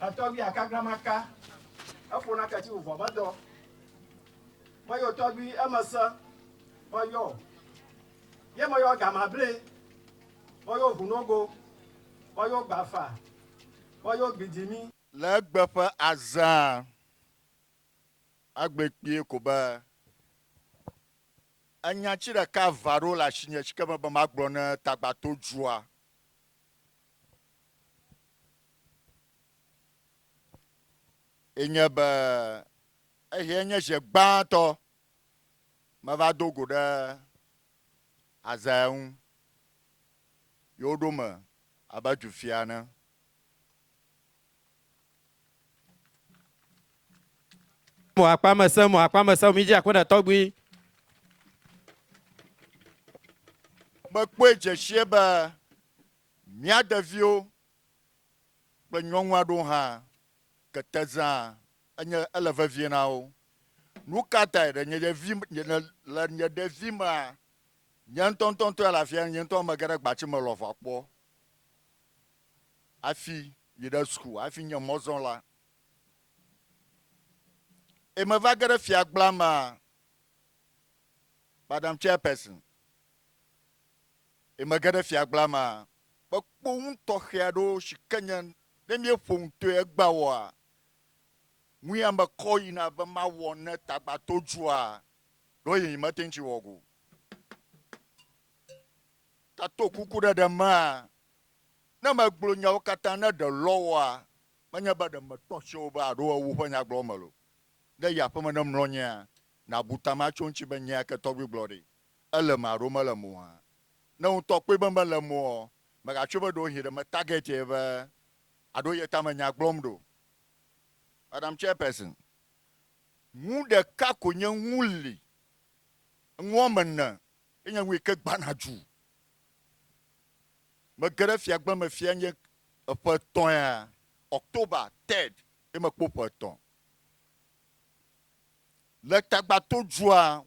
Etɔgbui akagla maka, eƒo nake tsi wòvɔ medɔ. Meyɔ tɔgbui eme se, meyɔ, ye meyɔ gamable, meyɔ ʋunogo, meyɔ gbafa, meyɔ gbidimi. Le egbe ƒe azea, agblɔe kpuie ko be, enya tsi ɖeka va ɖo le asinye tsike mebe magblɔ ne tagbatodua. enye be ehiɛ nye ʒe gbãtɔ meva do go ɖe Azaia ŋu yi woɖo me abe dufia ene. Mo akpa me se mo akpa me se mi dzi akpe ɖe tɔgbui. Mekpɔe dzesie be Mía ɖeviwo kple nyɔnu aɖewo hã kete zãa, enye ele vevie na wo. Nu ka tae? Le nye ɖevi, le nye ɖevi mea, nye ŋutɔ ŋutɔ ŋutɔ ya le afia, nye ŋutɔ mege ɖe gbati me le ʋua kpɔ hafi yi ɖe suku, hafi nye mɔzɔla. Eye meva ge ɖe fiagblea mea, Madam Chairperson, Eye mege ɖe fiagblaa me a, mekpɔ ŋu tɔxɛ aɖewo si ke nye ne míeƒo nu toe egbea wɔa, ŋui ame kɔ yina be mawɔ ne tagbato dzua, ɖo ye nyemete ŋu tsi wɔ go. Ka to kuku ɖeɖe me a, ne megblɔ nyawo katã ne ɖe lɔ wɔa, menye be ɖe metɔ tse o be aɖo ewu ƒe nyagblɔwɔ me lo. Ne yi aƒeme ne mlɔ nyea, nabu ta matso eŋuti be nyea ke tɔgbi gblɔ ɖi. Ele me alo mele moa? Ne ŋutɔ kpɔe be mele moɔ, mègatsoe be ɖewohĩ ɖe metarget ye be aɖo ye tame nya gblɔm ɖo. Madam Chairperson, nu ɖeka ko nye ŋu li, ŋu woame ene ye nye ŋu yike gbana dzu. Mege ɖe fiagbe me fia nye eƒe etɔ̃ ya, October third ye mekpɔ ƒe etɔ̃. Le Tagbatodua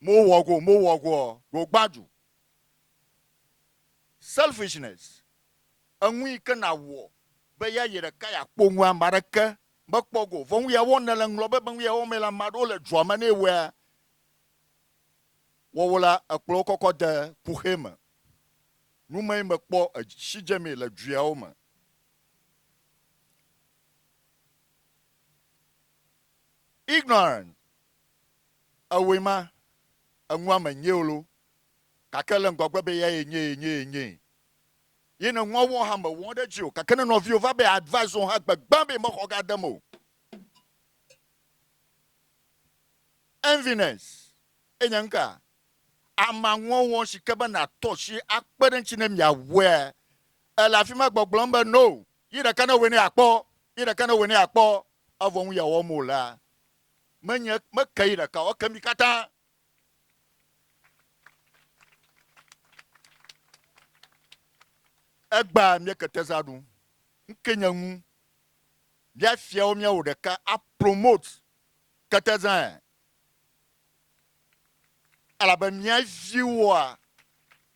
Mo wɔ go, mo wɔ go ɔ, go gbaju. Selfishness, eŋu yi ke na wɔ be ya yi ɖeka ya kpɔ ŋu ame aɖeke me kpɔ go. Vɔ ŋu ya wɔ ne le ŋlɔ be be ŋu ya wɔ me la ame aɖewo le dua me ne wɔa wɔwɔ la ekplɔ wo kɔkɔ de kuxɛ me. Nu me yi me kpɔ eshi dze me le dua wo me. Ignorance, Ewɔe ma, eŋua me nyee lo, gake le ŋgɔgbe be eyae nyee, nyee, nyee. Ye ne ŋua wɔ hã mewɔ ɖe edzi o, gake ne nɔviwò va be advice wò hã gbegbea be mexɔ ga dem o. Enviness ye nye nuka? Amanwɔnwɔn si ke be nàtɔ asi akpe ɖe eŋuti ne miawɔea? Èle afi ma gbɔgblɔm be no, yi ɖeka ne ewɔe ne yeakpɔ, yi ɖeka ne ewɔe ne yeakpɔ, evɔ nu ya wɔm wòlea, Menye meke yi ɖeka o, eke mi katã. Egba mia keteza ɖu. Ŋke nye ŋu. Mia fiawo mia wo ɖeka a promote ketezae. Elabe mia viwoa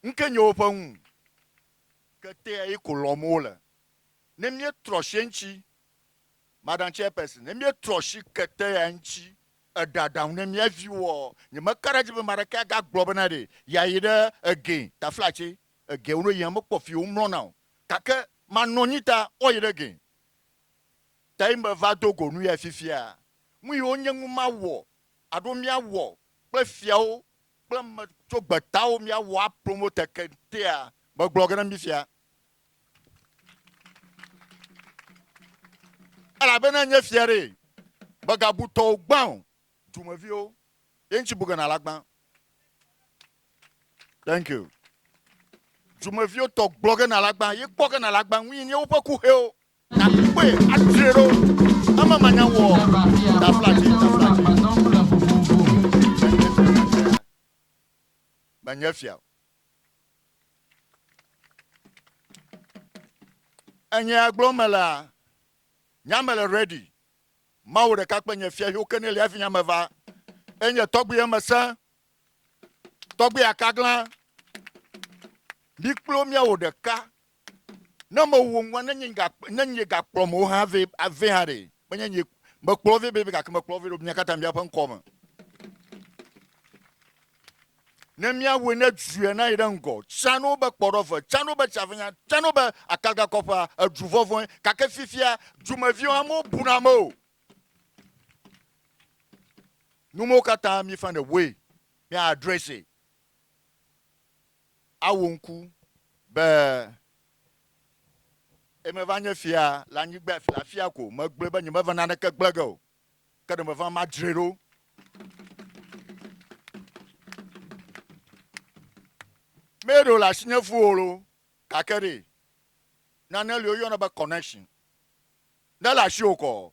ŋke nye woƒe ŋu. Ketea yi ko lɔm wole. Ne mie trɔ shiɛntsi Madam Chairperson, ne míetrɔ si kete ya ŋuti eɖe aɖaŋu ne mía viwoɔ, nyemeka ɖe edzi be ame aɖeke agagblɔ bena ɖe yeayi ɖe egɛ, taflatse, egɛ wolo yia mekpɔ fi womlɔna o. Gake manɔ anyi ta woayi ɖe egɛ. Tae meva do go nu yae fifia. Nu yi wonye ŋu mawɔ alo míawɔ kple fiawo kple ame tso gbetawo míawɔ apromote keŋtea, megblɔ ge na mí fia elabena nye fia ɖe mègabu tɔwò gbã o dumeviwo ye ŋuti bu gena la gbã thank you dumeviwo tɔ gblɔ gena la gbã ye kpɔ gena la gbã ŋuyi nye woƒe kuxewo nakpɔe atre ɖo eme manya wɔ daflavi daflavi menye fia o Enye agblɔ me la, nya me le ready. Mawu ɖeka kpe nye fia yo kene lia vinya me va. Enye tɔgbi ye me se. Tɔgbi akagla. Mi kplo mia wo ɖeka. Ne mewò ŋua, ne nye ga, ne nye ga kplɔ mò hã vɛ, vɛ hã ɖe, menye nye, mekplɔ vɛ bebe gake mekplɔ vɛ ɖo mia katã mia ƒe ŋkɔ me. Ne mia wɔe ne dzue na yi ɖe ŋgɔ, tsã no be kpɔɖɔve, tsã no be tsavenya, tsã no be akaga kɔƒea, edu vɔvɔe, gake fifia dumeviwo hã mo bu na me o. Numewo katã mi find a way, mi address it. awu ŋku be ye meva nye fia le anyigba le afia ko. Megblɔe be nyemeva naneke gblẽ ge o, ke ɖe meva madzree ɖo. Mee ɖe wòle asinye fũ o loo, gake ɖe nane li woyɔna be connection. Ne le asiwò kɔ,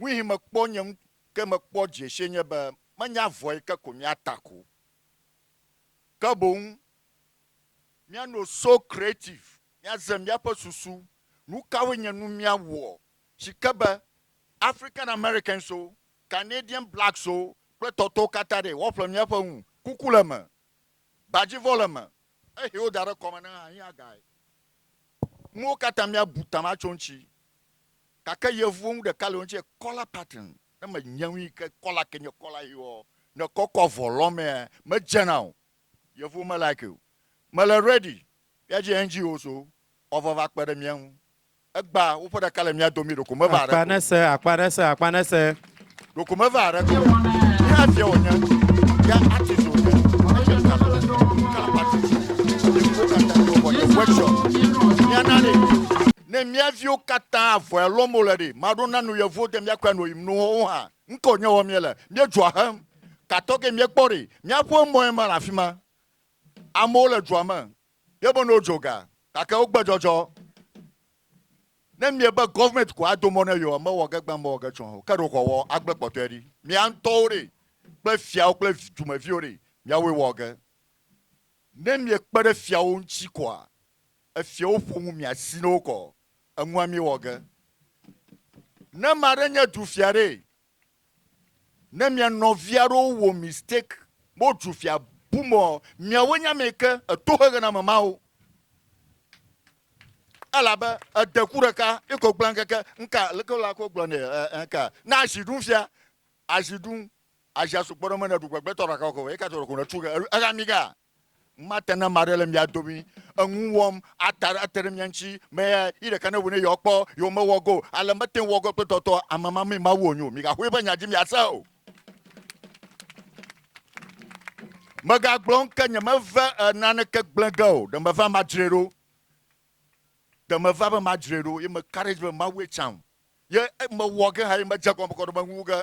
Nuihi mekpɔ nye ŋku ke mekpɔ dziesie nye be menye avɔe ke ko míata ko o, ke boŋ míano so creative, míaze míaƒe susu, nukawoe nye nu míawɔ si ke be African Americans wo, Canadian Blacks wo kple tɔtɔwo katã ɖee woaƒle míaƒe ŋu, kuku le eme, gbadzivɔ le eme, ehe woda ɖe kɔme ne ahiã gae, nuwo katã míabu ta matso eŋuti. Gake yevuwo ŋu ɖeka le wo ŋuti kɔla pattern ne me nye ŋui ke kɔla ke nye kɔla yi ɔ ne kɔ kɔ avɔ lɔ mea me dzena o yevuwo me like o me le ready ya dzi NGOs wo ɔ va va kpe ɖe mía ŋu egba wo ƒe ɖeka le mía domi ɖeko me va ɖe akpa ne se akpa ne se akpa ne se. ɖoko meva aɖe to ne afia wònye ya ati so ne ɔnɛtsɛ ta so kana pati so ne ko kata ne wòbɔ ye wɛtsɔ miana de ne miaviwo kata avɔ ɛlɔ mo le de maɖo nanu yevo de miakɔ anu yi mnu wo hã ŋkɔ nye wɔ mie le mie dzɔ ahem katɔ ke mie kpɔ de miaƒo emɔ ye ma le afi ma amewo le dzɔ me ye be ne wodzo ga gake wogbe dzɔdzɔ Ne mie be government ko ado mɔ ne yeoa, mewɔ ge gbã, mewɔ ge tsɔa o, ke ɖo xɔ wɔ agble kpɔtɔe ɖi. Mia ŋutɔwo ɖe, kple fiawo kple dumeviwo ɖe, miawoe wɔ ge. Ne mie kpe ɖe fiawo ŋuti koa, efiawo ƒo ŋu mia si ne wokɔ, eŋua mie wɔ ge. Ne ame aɖe nye du fia ɖe, Ne mia nɔvia ɖewo wɔ mistake, bo dzu fia bu mɔ miawo nya me ke eto xexe na me mawo. Elabe ede ku ɖeka iko gblẽ keke nka leke la ko gblɔ ne nka. Na azi ɖum fia, azi ɖum, azi asukpɔ ɖe me ne ɖu gbegbe tɔ ɖeka ko, eka tɔ ɖeka ko ne tu ke, eka mi ka. Mate ne ame aɖe le mia domi enu wɔm ata ate ɖe mia ŋuti me ya yi ɖeka ne ŋu ne yewoa kpɔ yewo me wɔ go ale mete ŋu wɔ go kple tɔtɔ ame ma mee mawu wonyo miga ƒoe ƒe nya dzi mia se o. Mega gblɔ ŋke nye me ve e nane ke gble ge o ɖe me va ma dzre ɖo ɖe me va be ma dzre ɖo ye me ka ɖe dzi be mawu ye tsaŋ ye me wɔ ge ha ye me dze gɔme kɔɖe me ŋu ge